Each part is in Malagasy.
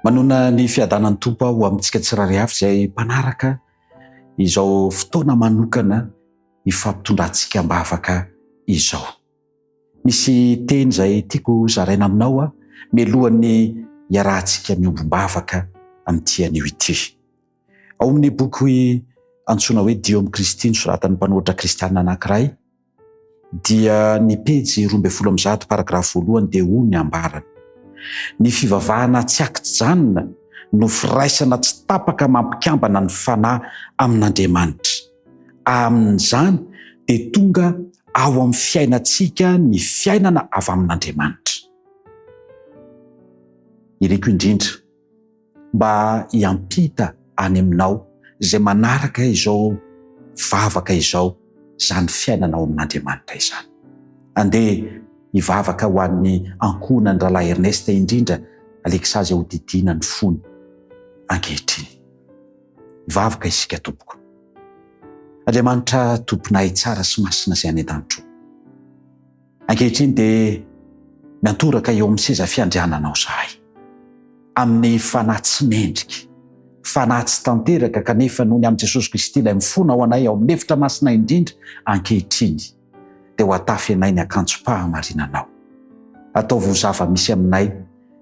Manona ny fiadanan'ny Tompo aho amintsika tsirary avy izay mpanaraka izao fotoana manokana ifampitondrantsika am-bavaka izao. Misy teny izay tiako zaraina aminao aho melohan'ny iarahantsika miombom-bavaka amin'ity anio ity. Ao amin'ny boky antsoina hoe Dio amin'i Kristy nosoratan'ny mpanoratra kristiana anankiray, dia ny pejy roa ambin'ny folo amby zato paragrafy voalohany dia hoy ny ambarany, Ny fivavahana tsy ankijanona no firaisana tsy tapaka mampikambana ny fanahy amin'Andriamanitra. Amin'izany dia tonga ao amin'ny fiainantsika ny fiainana avy amin'Andriamanitra. Iriko indrindra. mba hiampita any aminao izay manaraka izao vavaka izao, izany fiainana ao amin'Andriamanitra izany. Andeha hivavaka ho an'ny ankohonan'ny Rahalahy Ernest indrindra Alexa izay hodidiana ny fony ankehitriny. Hivavaka isika tompoko. Andriamanitra Tomponay tsara sy masina izay any an-danitro. Ankehitriny dia miantoraka eo amin'ny seza fiandriananao izahay, amin'ny fanahy tsy mendrika, fanahy tsy tanteraka kanefa noho ny amin'i Jesosy Kristy Ilay mifona ao anay ao amin'ny efitra masina indrindra ankehitriny dia ho atafy anay ny akanjom-pahamarinanao. Ataovy ho zava-misy aminay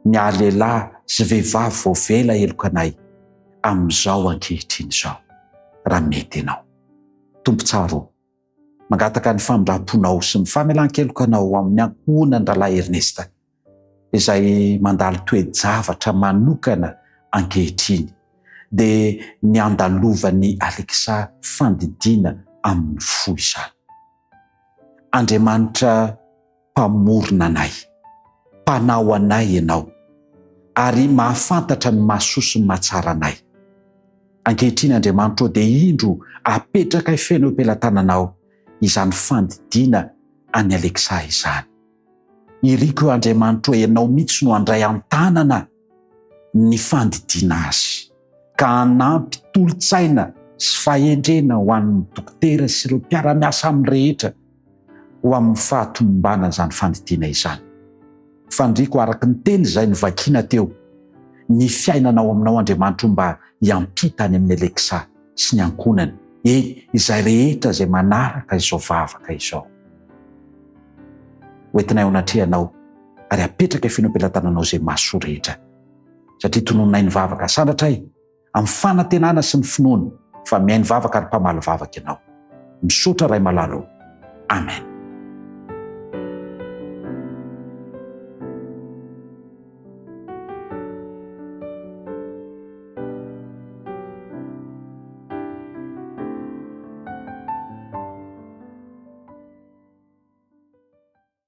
ny ahy lehilahy sy vehivavy voavela heloka anay amin'izao ankehitriny izao raha mety Ianao. Tompo tsara o! Mangataka ny famindramponao sy ny famelan-kelokanao ho amin'ny ankohonan-dRalahy Ernesta, izay mandalo toe-javatra manokana ankehitriny, dia ny andalovan'i Alexa fandidiana amin'ny fo izany. Andriamanitra. Mpamorona anay. Mpanao anay Ianao, ary mahafantatra ny mahasoa sy ny mahatsara anay. Ankehitriny, Andriamanitra ô, dia indro apetrakay feno eo am-pelatananao izany fandidiana an'i Alexa izany. Iriko io, Andriamanitra ô, Ianao mihitsy no handray an-tanana. ny fandidiana azy ka hanampy tolo-tsaina sy fahendrena ho an'ny dokotera sy ireo mpiara-miasa aminy rehetra ho amin'ny fahatombana izany fandidiana izany. Fandriako araka ny teny izay novakiana teo, Ny fiainana ao aminao Andriamanitro mba hiampita any amin'i Alexa sy ny ankohonany, eny, izay rehetra izay manaraka izao vavaka izao. Hoentinay ao anatrehanao. ary apetraka efeno am-pelatananao izay mahasoa rehetra, satria tonononay ny vavaka sandratray amin'ny fanantenana sy ny finoana fa mihaino vavaka ary mpamaly vavaka Ianao. Misaotra Ray malala o. Amen.